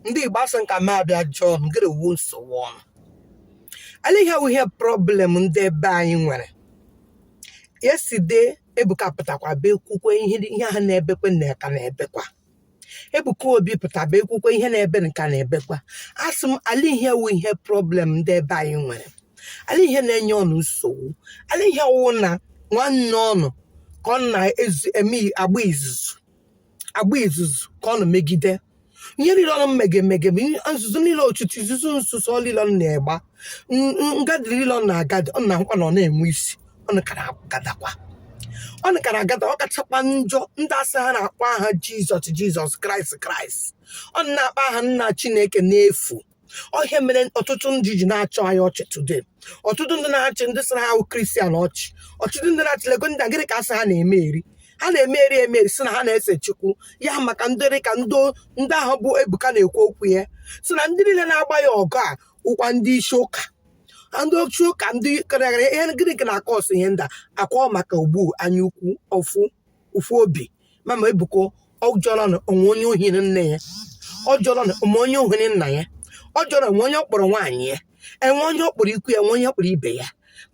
ndị igbo asị m ka m bịa jụọ ọnụ gịrị wụ nsogbu ọnụ ala ihe wụ ihe problem ndị ebe anyị nwere yesterday ebuka pụtakwa be kwukwe ihe ihe na-ebekwe nka na-ebekwa ebuka obi pụta be kwukwe ihe na-ebe nka na-ebekwa asị m ala ihe wụ ihe problem ndị ebe anyị nwere ala ihe na-enye ọnụ nsogbu ala ihe wụ na nwanne ọnụ ka ọnụ na-agba izuzu agba izuzu ka ọnụ megide ihe niile ọnụ mege emege bụ ihe- nzuzo niile ọtụtụ izuzu nzuzo ọ niile ọnụ na-agba n- n- ngadị niile ọnụ na-agadị ọ na-ahụkwa na ọ na-enwe isi ọnụ ka na-agadakwa ọnụ ka na-agada ọ kachakwa njọ ndị sị ha na-akpọ aha jizọs jizọs kraịst kraịst ọnụ na-akpọ aha nna chineke n'efu ọ ihe mere ọtụtụ ndị ji na-achị anyị ọchị today ọtụtụ ndị na-achị ndị sị na ha wụ kristian ọchị ọtụtụ ndị na-achị lego ndị a, gịnị ka asị ha na-eme eri ha na-eme eri eme eri sị na ha na-ese chukwu ya maka ndị dị ka ndị ndị ahụ bụ ebuka na-ekwu okwu ya sị na ndị niile na-agba ya ọgụ wụkwa ndị isi ụka ndị ochi ụka ndị karịrị ihe gịnị ka na-acause ihe ndị a ọ kwa maka ogbu anya ukwu ọfụ ụfụ obi mama ebuka ọ jọrọ na o nwe onye o hiri nne ya ọ jọrọ na o nwe onye o hiri nna ya ọ jọrọ o nwe onye ọ kpọrọ nwaanyị ya e nwe onye ọ kpọrọ ikwu ya e nwe onye ọ kpọrọ ibe ya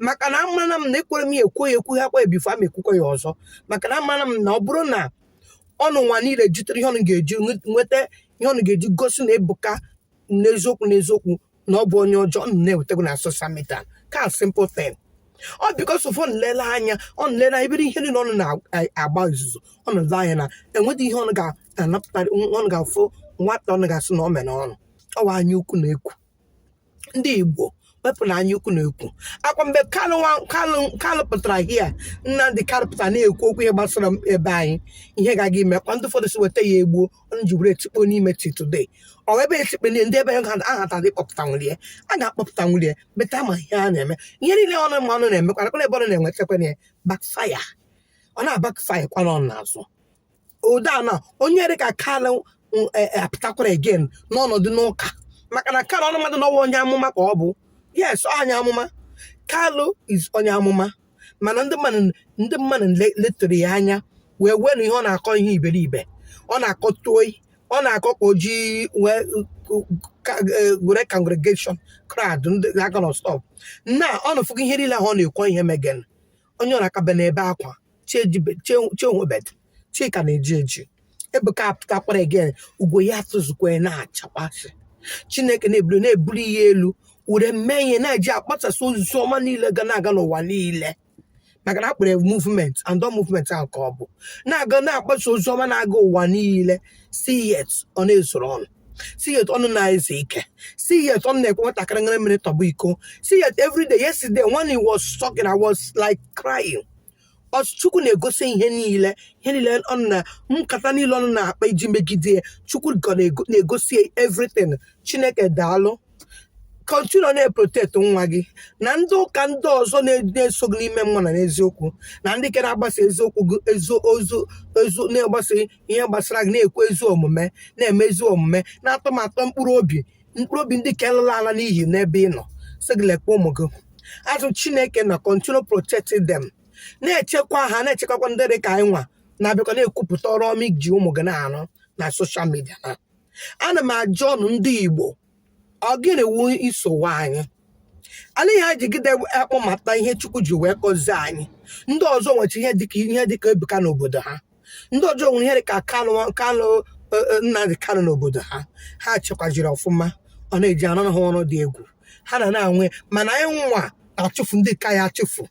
maka na amara m na ekwere m ya ekwu ya ekwu ha kwa before m ekwukwa ya ọzọ maka na amara m na ọ bụrụ na ọnụ nwa niile jitere ihe ọnụ ga-eji nweta ihe ọnụ ga-eji gosi na ebuka n'eziokwu n'eziokwu na ọ bụ onye ọjọọ unu ewetago na social media ka simple thing ọ because of nlele anya ọ nlele anya mere ihe niile ọnụ na-agba izuzu ọ nọdụ anya na enweghị ihe ọnụ ga-anapụtarị ọnụ ga-afụ nwata ọnụ ga-asị na ọ mere ọnụ ọ wụ anya ukwu na ekworo ndị igbo wepụnụ anya ukwu na ekworo ọ kwa mgbe kalụ nwa- kalụ kalụ pụtara here nnamdị kalụ pụtara na-ekwu okwu ihe gbasara ebe anyị ihe ga-aga ime kwa ndị ụfọdụ sị weta ya egbuo onye ji were tikpo n'ime till today ọ ebe etikpeli ndị ebe ha ahata dị kpọpụta nwere ya a ga-akpọpụta nwere ya beta ma ihe a na-eme ihe niile ọnụ mmanụ na-emekwa nakwa ebe ọ na-enwetakwa ya backfire ọ na-abackfire kwara ọnụ n'azụ ụda na onye dị ka kalụ apụtakwara again n'ọnọdụ n'ụka maka na kalụ ọnụ madụ na ọ wụ onye amụma ka ọ bụ yes onye amụma kalụ is onye amụma mana ndị mmadụ ndị mmadụ le- letụrụ ya anya wee were ihe ọ na-akọ ihe iberibe ọ na-akọ story ọ na-akọ ka o ji wee ka- eh, were congregation crowd ndị aka na stop na ọnụ afụgo ihe niile ahụ ọ na-ekwu ihe megen onye ọ na-akabe n'ebe akwa chehụbed chi ka na-eji eji ebuka apụtakwara again ugo ya atụzukwa ya na-achakpasị chineke na-ebuli na-ebuli ya elu were mee ihe na-eji akpasasị ozizi ọma niile ga na-aga n'ụwa niile maka na akpọrọ movement and ọ movement ahụ ka o bu na-aga na-akpasa ozi ọma na-aga ụwa niile still yet ọ na-ezuru ụnụ still yet ụnụ na-ezu ike still yet ụnụ na-ekwe nwatakịrị ṅara mmiri tọgbọ iko still yet everyday yesterday when he was talking I was like crying otu chukwu na-egosi ihe niile ihe niile ụnụ na nkata niile ụnụ na-akpa iji megide ya chukwu ka na-ego- na-egosi ya everything chineke daalụ continue na-eprotect nwa gị na ndị ụka ndị ọzọ na- na-eso gị n'ime mmụọ na n'eziokwu na ndị nke na-agbasa eziokwu gị ezi ozi ezi na-agbasa ihe gbasara gị na-ekwu ezi omume na-eme ezi omume na-atọ m atọ mkpụrụ obi mkpụrụ obi ndị ka elala ala n'iyi n'ebe ị nọ sị gị lekwa ụmụ gị azụ chineke na continue protecting them na-echekwa ha na-echekwakwa ndị dị ka anyị nwa na-abịakwa na-ekwupụta ọrụ ọma i ji ụmụ gị na-arụ na social media na ana m ajụ ụnụ ndị igbo ọ gịnị wu nsogbu anyị ala ihe anyị jigide akpọmata ihe chukwu ji wee gọzie anyị ndị ọzọ nwecha ihe dịka ihe dịka ebuka n'obodo ha ndị ọzọ nwere ihe dị ka kanụ kanụ eh, eh, nnamdị kanụ n'obodo ha ha chekwajiri ọfụma ọ na-eji anọ ha ọrụ dị egwu ha na na-anwe mana anyị nwa na-achụfu ndị nke anyị achụfu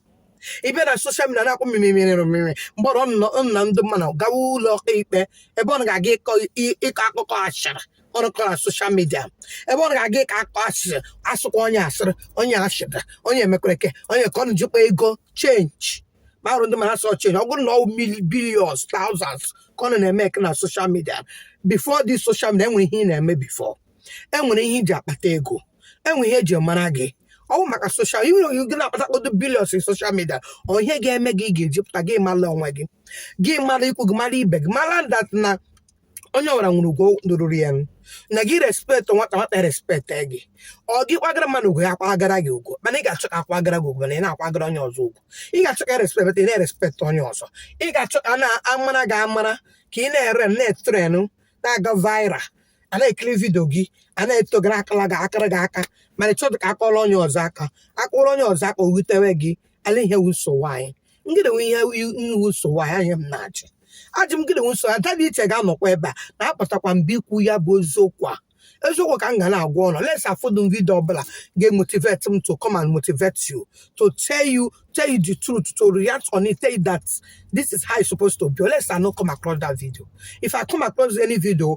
ị bịa na social media na-akpọ mmimimiri mmiri mgbe ụnụ na ndị mmadụ gawa ụlọ ọka ikpe ebe ọ ga-aga ịkọ i- ịkọ akụkọ ashịrị ụnụ kọ na social media ebe ọ ga-aga ịkọ akụkọ ashịrị asụkwa onye asịrị onye ashịrị onye emekwere eke onye ka ọ na-ejikwa ego change kparụ ndị ma ha sọ change ọ bụrụ na ọ billions thousands ka ụnụ na-emake na social media before this social media enwere ihe ị na-eme before enwere ihe i ji akpata ego enwere ihe eji mara gị ọ bụ maka social i nwere ike na-akpata kpọdo billions in social media ọ ihe ga-eme gị ị ga-eji pụta gị mara onwe gị gị mara ikwu gị mara ibe gị mara that na onye ọbụla nwere ugwu ruru ya na gị respect nwata nwata respect gị ọ gị kwagara mmadụ ugwu ya kwagara gị ugwu mana ị ga-achọ ka akwagara gị ugwu mana ị na-akwagara onye ọzọ ugwu ị ga-achọ ka respect ị na-erespect onye ọzọ ị ga-achọ ka a na-amara gị amara ka ị na-ere na-etrend na-aga viral a na-ekiri video gị a na-eto gị akụrụ gị akụrụ gị aka mana ị chọdụ ka a kụọrọ onye ọzọ aka a kụọrọ onye ọzọ aka o wutewe gị ala ihe wu nsogbu anyị gịnị wu ihe wu nsogbu anyị ihe m na-ajụ ajụ gịnị wu nsogbu ada dị iche ga-anọkwa ebe a na-apụtakwa ebe a ikwu ya bụ eziokwu ọ eziokwu ka m ga na-agwa ụnụ unless afụdụ m video ọbụla ga-emotivate m to come and motivate you to tell you tell you the truth to react on it tell you that this is how it's supposed to be unless I no come across that video if I come across any video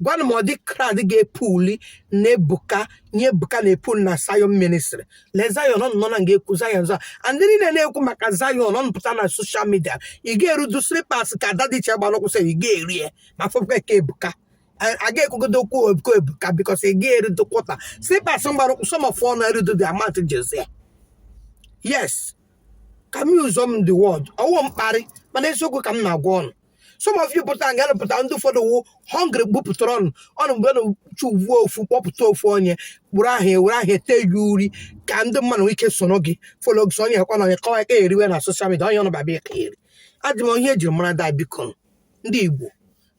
gwanụ m ụdị crowd ga-epuli na ebuka nye ebuka na-epul na zayon ministry le zayon ọ nọ na nga ekwu zayon zọ and ndị niile na-ekwu maka zayon ọ pụta na soshal midia ị ga-erudu slipas ka ada dị iche gbara ụkwụ sị ị ga-eri ya ma fọpụta ka ebuka aga ekwugodo okwu ebuka ebuka bikos ị ga-erudu kwọta slipas gbara ụkwụ some of ọnụ erudu dị amat jezie yes ka m use the word ọ wụ mkparị mana eziokwu ka m na-agwa ọnụ some of you pụta nga pụta ndị ụfọdụ wụ hungry bupụtara ọnụ ọnụ mgbe na-achọ view ofu kpọpụta ofu onye gburu ahụ ewere ahụ ete gị uri ka ndị mmadụ nwee ike soro gị folo gị onye ekwa na onye kọwa kọheriwe na soshal midia onye ọnụ babịa ka eri adị m ihe e jiri mara da biko ndị igbo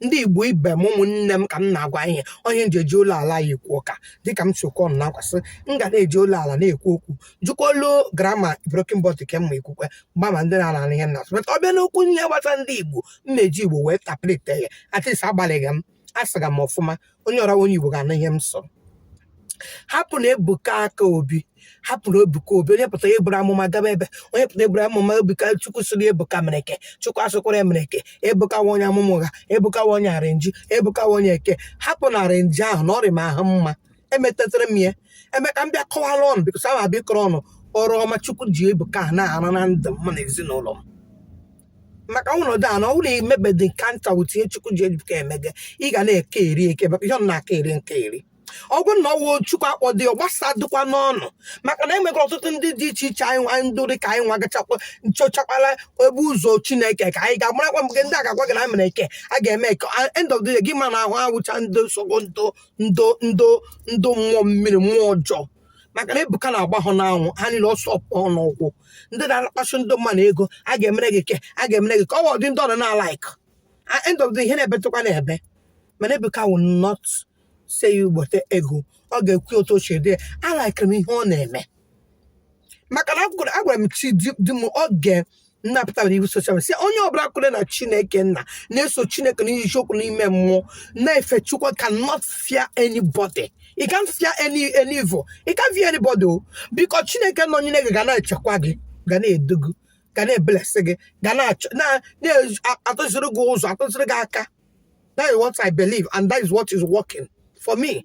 ndị igbo ibe m ụmụnne m ka m na-agwa ihe onye m ji eji olu ala ya ekwu ụka dịka m si okwu ọnụ na-akwasị m ga na-eji olu ala na-ekwu okwu m jikwa olu grama broken but nke mma ikwukwe mgbama ndị na-ala ihe na but ọ bịa n'okwu ihe gbasa ndị igbo m na-eji igbo wee tackle ya at least agbalịghị m asụga m ọfụma onye wụrụ onye igbo ga-anụ ihe m sụ hapụnụ ebuka aka obi hapụnụ ebuka obi onye pụtara eburu amụma gaba ebe onye pụtara eburu amụma ebuka chukwu sịrị ebuka mere eke chukwu asịkwara emereke ebuka wụ onye amụma ụgha ebuka wụ onye arrangee ebuka wụ onye eke hapụ na arrangee ahụ na ọ rị m ahụ mma emetetere m ya eme ka m bịa kọwara ọnụ bikos ahụ abịa ịkọrọ ọnụ ọrụ ọma chukwu ji ebuka a na-arụ na ndụ m na ezinụlọ m maka ọnọdụ a na ọ bụrụ na i nwebedị encounter hụta ihe chukwu ji ebuka emege ị ga na-eke eri eke maka ihe ọ na-aka eri nke eri ọ bụrụ na ọ wụ chukwu akpọdị ọ gbasadịkwanụ ọnụ maka na enwegoro ọtụtụ ndị dị iche iche anyị nwa ndị dị ka anyị nwa gachakwa chọchakwala ebe ụzọ chineke ka anyị ga-amarakwa mgbe ndị a ga-agwa gị na anyị mere eke a ga-eme eke end of the day gị ma na ha wụcha ndị nsogbu ndị ndị ndị ndị mmụọ mmiri mmụọ ọjọọ maka na ebuka na-agba ha n'anwụ ha niile ọsọ pụọ n'ụkwụ ndị na-akpasu ndị mmadụ ego a ga-emere gị eke a ga-emere gị eke ọ dị ndị ọnụ na-alaik end of the day ihe na-ebetụkwa na-ebe mana ebuka will not say you wete ego ọ ga-ekwu otu o si dị ya alaikere m ihe ọ na-eme maka na agwara m chi di m oge m na-apụta iwu soshal sị onye ọbụla kwere na chineke nna na-eso chineke n'eziokwu n'ime mmụọ na-efe chukwu cannot fear anybody you can't fear any any evil you can't fear anybody because chineke nọnyere gị ga na-echekwa gị ga na-edu gị ga na-eblesị gị ga na-atụziri gị ụzọ atụziri gị aka that is what I believe and that is what is working for me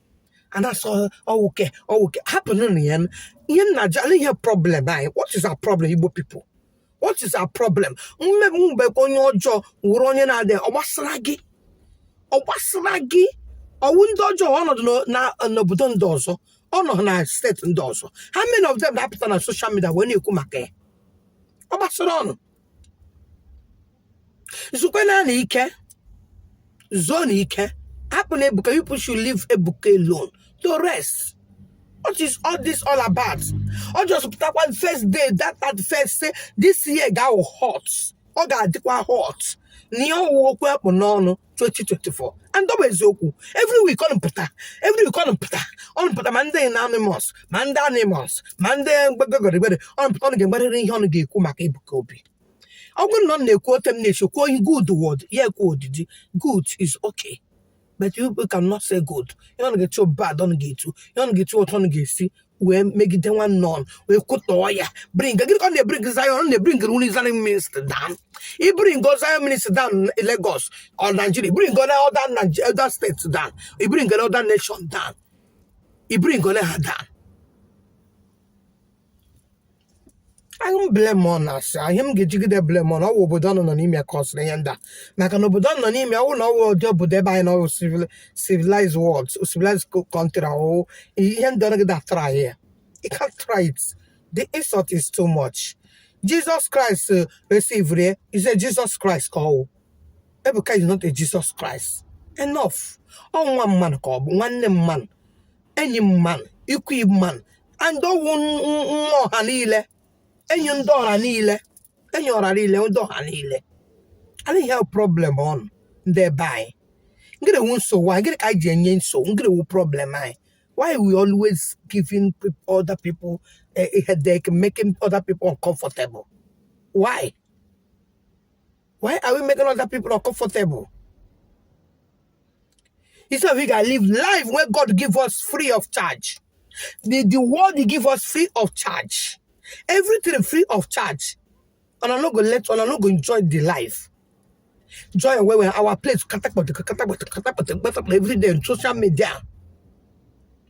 a na-asị ọ wụ eke ọ wụ eke hapụnụnụ ya nụ. ihe m na-ajụ olee ihe problem anyị what is our problem igbo people what is our problem ma ebuka onye ọjọọ wụrụ onye na-adị ọ gbasara gị ọ gbasara gị ọ wụ ndị ọjọọ anọdị n'o- na- n'obodo ndị ọzọ anọdị na steeti ndị ọzọ how many of them na-apụta na social media wee na-ekwu maka ya ọ gbasara ọnụ zukwanụ ike zuonụ ike hapụnụ ebuka you people should leave ebuka alone to rest what is all this all about ọ just pụtakwa first day thirty first sị this year ga-awụ hot ọ ga-adịkwa hot na ihe ọ wụ okwu a kpụ n'ọnụ 2024 and ọ bụ eziokwu every week ọnụ pụta every week ọnụ pụta ọnụ pụta ma ndị na animals ma ndị animals ma ndị gbegogorigbere ọnụ pụta ọnụ ga-egbarịrị ihe ọnụ ga-ekwu maka Ebuka Obi ọ bụrụ na ọnụ na-ekwu otu m na-esi kwuo ihe good word ya ekwu odidi good is okay but you cannot say good ihe ọnụ ga-etu bad ọnụ ga-etu ihe ọnụ ga-etu otu ọnụ ga-esi wee megide nwanne ọnụ wee kwutọọ ya bring gịnị ka ọnụ na-ebring Zion ọ na-ebringnwu Zion ministry down i bring Zion ministry down na Lagos or Nigeria i bringola other Nige- other state down i bringola other nation down i bringola ha down anaghị m blame ọnụ asị ihe m ga-ejigide blame ọnụ ọ wụ obodo ọnụ nọ n'ime kọsịrị ihe ndị a maka na obodo ọnụ nọ n'ime ọ wụ na ọ wụ ụdị obodo ebe anyị nọ ọ wụ civilized world civilized country ọ wụ ihe ndị ọrụ gị dare try ya you can't try it the insult is too much jesus christ uh, receiveri is a jesus christ ka ọ wụ ebuka is not a jesus christ enough ọ nwa mmadụ ka ọ bụ nwanne mmadụ enyi mmadụ ikwu mmadụ and ọ wụ nwa ọha niile enyi ndị ọha niile enyi ọha niile ndị ọha niile anyị ha problem ọnụ ndị ebe anyị ngịrị wụ nsogbu anyị gịrị ka anyị ji enye nsogbu ngịrị wụ problem anyị why we always giving peop- other people a, a headache making other people uncomfortable why why are we making other people uncomfortable instead we can live life where god give us free of charge the, the world he give us free of charge everything free of charge una no go let una no go enjoy the life joy and where our place katakpọtụ katakpọtụ katakpọtụ gbasakpọ every day on social media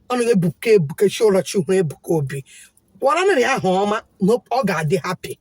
ọ na ebuka ebuka chi ụra chi hụrụ ebuka obi gwara na ya ahụ ọma na ọ ga-adị happy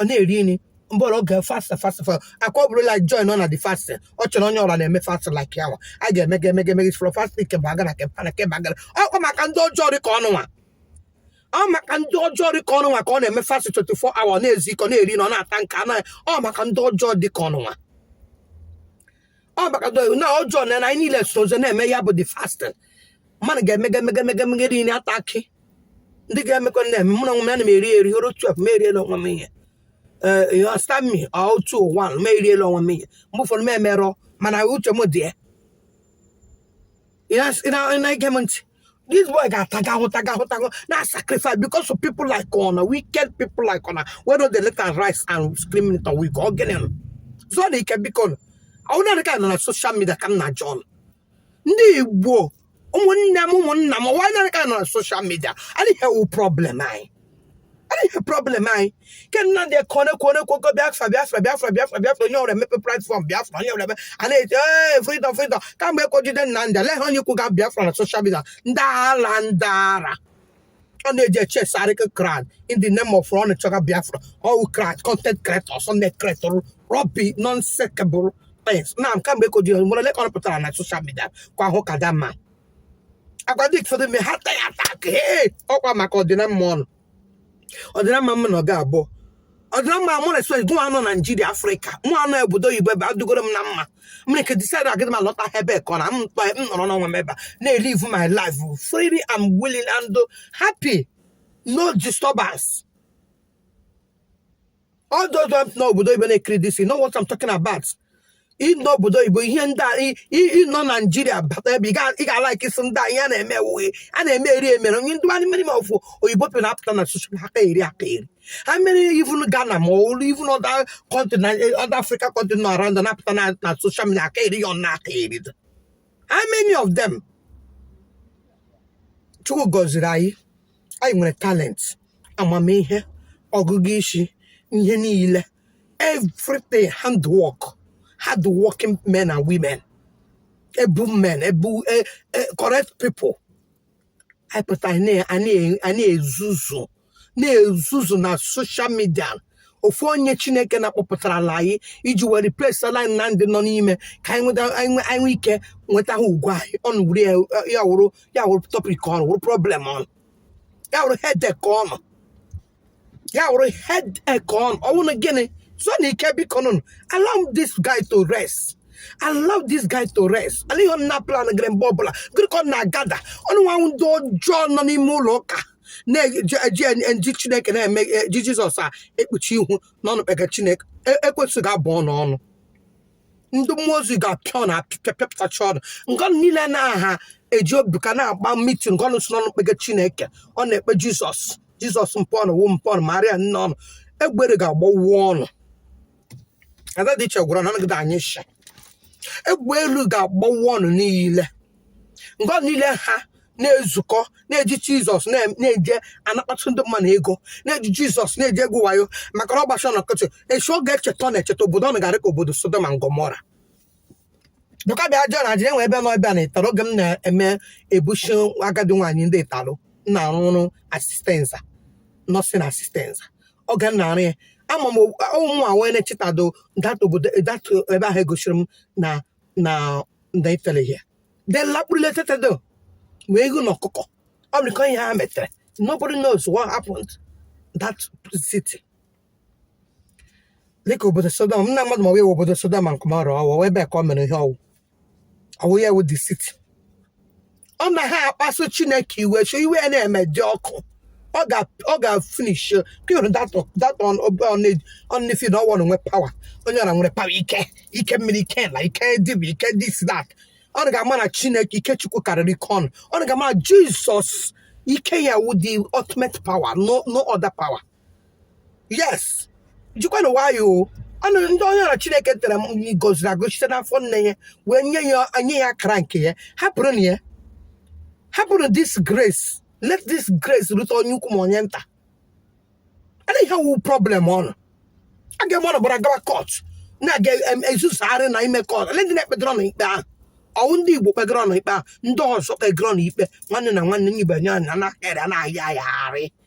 ọ na-eri nri mgbe ọ bụla ọ ga fasta fasta fasta akwa ọ bụrụ like join ọ na the fast ọ chọrọ onye ọ bụla na-eme fast like ya nwa a ga-emega emega eme from fast ke ba gara ke para ke ba gara ọkwa maka ndị ọjọọ dị ka ọnụ nwa ọ maka ndị ọjọọ dị ka ọnụ nwa ka ọ na-eme fast 24 hour na-ezi ka ọ na-eri na ọ na-ata nke anụ ọ maka ndị ọjọọ dị ka ọnụ nwa ọ maka ndị ọjọọ na anyị niile sozo na-eme ya bụ the fasting mmadụ ga-emega emega emega emega iri na ata akị ndị ga-emekọ na-eme mụ na onwe m ana m eri eri o ruo twelve m eriela onwe m ihe ee ọsta mi otu ụwa m eriela onwe m ihe mgbe ụfọdụ m emerọ mana uche m dị ya ị na-ege m ntị this boy ga-ataga ahụhụ taga ahụhụ taga ahụhụ na sacrifice because of people like una wicked people like una wey no dey let am rest and scream it away ka ọ gịnị nụ zuo nụ ike biko nụ ọwụ na ka nọ na social media ka m na jọn ndị igbo ụmụnne m ụmụnna m ọwụ na ka nọ na social media adịghị ihe wụ problem anyị ihe problem anyị ke nnamdi kanu ka na-ekwu okwu biafra biafra biafra biafra biafra onye ọwụla emepe platform biafra onye ọwụla emepe a na-eti ee freedom freedom kamgbe e kwo jide nnamdi aleghị onye ikwu ga biafra na social media ndị ala ndị ara ọ na-eji eche sarịkị clout in the name of ọ na-echọga biafra ọwụ clout content creator sunday creator rubbish nonsekebụl pens na kamgbe e kwo jide nwere lekọ pụtara na social media kwa ahụ ka dama a gwa ndị ụfọdụ mee ha taghị attack ee ọkwa maka ọdịna mma ọnụ ọdịna mma mma na ọ ga-abụ ọdịna mma mụ na swed nwa anọ naijiria afrịka mụ anọ obodo oyibo ebe adụgoro m na mma m nwere ike decide agadịghị m alọta ebe ka ọ na m tọ m nọrọ n'onwe m ebe a na-elive my life freely and willing and happy no disturbance all those ones na obodo oyibo na-ekiri this you know what I'm talking about ị nọ obodo oyibo ihe ndị a ị- ị- ị nọ naijiria bata ebe ị ga- ị ga-ala ike isi ndị a ihe a na-eme ewughị a na-eme eri emere onye ndị mmadụ mmiri ma ọfụ oyibo pịa na-apụta na social aka eri aka eri ha mere even ghana ma olu even other country na other africa country nọ around na-apụta na na social media aka eri ya ọ na aka eri dị. how many of them chukwu gọziri anyị anyị nwere talent amamihe ọgụgụ isi ihe niile everything hand work hard working men and women able men able e- e- correct people anyị pụtara anyị na- anyị- anyị ezuzu na-ezuzu na social media ofu onye chineke na-akpọpụtarala anyị iji wee replace ala anyị na ndị nọ n'ime ka anyị nweta anyị nwe- anyị nwee ike nweta ha ugwu anyị ọnụ wuru ya ya wụrụ ya wụrụ topic ọnụ wụrụ problem ọnụ ya wụrụ headache ọnụ ya wụrụ headache ọnụ ọ wụrụ gịnị zuo nụ ike biko nụnụ allow this guy to rest allow this guy to rest alighị ihe ọnụ na-aplan ga-ire mgbe ọbụla ga-ire ka ọnụ na-agada ọnụ nwa ndị ọjọọ nọ n'ime ụlọ ụka na-eji ndị chineke na-eme eji jizọs a ekpuchi ihu na ọnụ kpega chineke ekwensu ga-abụ ọnụ ọnụ ndị mmụọ ozi ga-apịa ọnụ apịa pịa pịapụtacha ọnụ nga ọnụ niile na aha eji obi ka na-agba mitin nga ọnụ sị na ọnụ kpege chineke ọnụ na-ekpe jizọs jizọs mpọnụ wụ mpọnụ maria nne ọnụ egbe elu ga-agbawu ọnụ ada dị iche gwara na anagide anyị sha egbe elu ga-agbawu ọnụ niile mgbe ahụ niile ha na-ezukọ na-eji jizọs na- na-eje anakpatụ ndị mmadụ ego na-eji jizọs na-eje egwu wayo maka na ọ gbasara na nkịtị echi ọ ga-echeta ọ na-echeta obodo ọ na-gara ka obodo sodom and gomora bụka bịa jụọ na ajịrị enwe ebe nọ ebe a na ịtali oge m na-eme ebuchi agadi nwaanyị ndị ịtali na-arụ ọrụ asistenza nọsin asistenza oge m na-arụ ya ama m ụmụ nwa wee na-echetado dat obodo dat ebe ahụ egosiri m na na ndị ịtali ha de lakpuru ụla etetedo ma eghu na ọkụkọ ọ bụ ihe ha metere nobody knows what happened that city dịka obodo sodom na mmadụ ma ọ wụ obodo sodom and gomora ọ wụ ebe ka ọ mere ihe ọ wụ ọ wụ ya wụ the city ọnụ na-akpasu chineke iwe so iwe ya na-eme dị ọkụ ọ ga ọ ga finish ka ị hụrụ dat dat ọnụ feel na ọ wụ ọnụ nwe pawa onye ọra nwere pawa ike ike mmiri ike na ike dibia ike dis dat ọnụ ga-ama na chineke ike chukwu karịrị ike ọnụ ọnụ ga-ama na jizọs ike ya wụ the ultimate power no no other power yes jikwanụ nwayọ o ọnụ ndị onye ọra chineke tere mmanụ goziri agọzi site n'afọ nne ya wee nye ya nye ya akara nke ya hapụrụnụ ya hapụrụ this grace let this grace rute onye ukwu ma onye nta ana ihe wụ problem ọnụ aga m ọnụ buru gawa kọt na-aga em- ezuzugharị na ime kọt ole ndị na-ekpedoro ọnụ ikpe ahụ ọ wụ ndị igbo kpegoro ọnụ ikpe ahụ ndị ọzọ kpegoro ọnụ ikpe nwanne na nwanne nye ibe nye ọnụ na-akarị a na-ahịa ahịagharị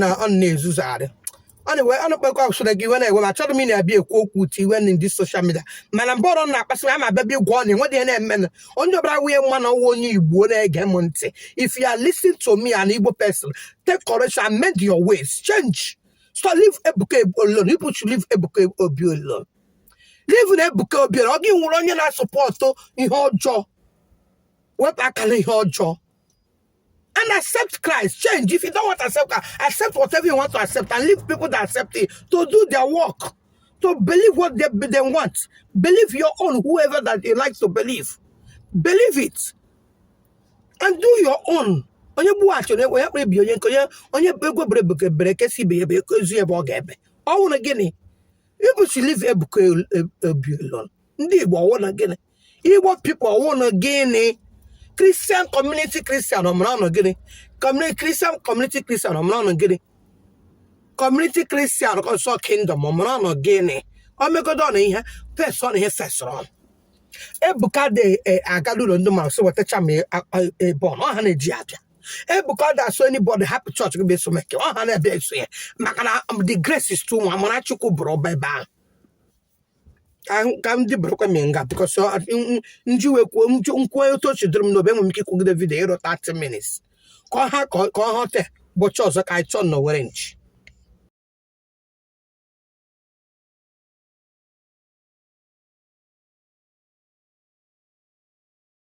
na ọnụ na-ezuzugharị ọ na-ewe ọ na-ekpekọ usoro gị iwe na-ewe m achọghị m ị na-abịa ekwu okwu utu iwe na ndị soshal midia mana mgbe ọra ọnụ na-akpasị m ama abịa bịa gwa ọnụ enweghị ihe na-eme na onye ọbụla wụ onye ma na ọ wụ onye igbo na-ege m ntị if you are listening to me an igbo person take courage and mend your ways change so leave ebuka Obi alone people should leave ebuka obi alone leave nụ ebuka obi alone ọ gị wụrụ onye na-asọpọtụ ihe ọjọọ wepụ aka na ihe ọjọọ and accept Christ. Change. If you don't want to accept Christ, accept whatever you want to accept and leave people that accept it to do their work, to believe what they, they want. Believe your own, whoever that you like to believe. Believe it. And do your own. onye gbuo achara onye akpọla ibe onye ikoni onye ugo bere egbe bere nke sị ibe ya ebela zi ya ebe ọ ga-ebe ọ wụrụ gịnị ị bụ chi leave ebuka obi alone ndị igbo ọ wụnụ gịnị igbo pipo wụnụ gịnị kristian kọmuniti kristian o mere ọnụ gịnị Communi- kristian kọmuniti kristian o mere ọnụ gịnị kọmuniti kristian ọsọ kingdom o mere ọnụ gịnị o megodo ọnụ ihe pes ọnụ ihe sesịrị ọnụ ebuka adị aga la ụlọ ndị mmadụ so wetacha m ebe ọ ha na-eji abịa ebuka ọ da-asị anybody hapụ chọọchị gị bịa eso meke ọ ha na-abịa eso ya maka na um, the grace is too much amara chukwu bara ụba ebe ahụ ka m dịbụrụkwa m nga because nji wee kwuo nkwuo otu o chidoro m n'obi enwe m ike ikwugide video iru 30 minutes ka ọ ha ka ọ họte ụbọchị ọzọ ka anyị chụọ n'owere nchi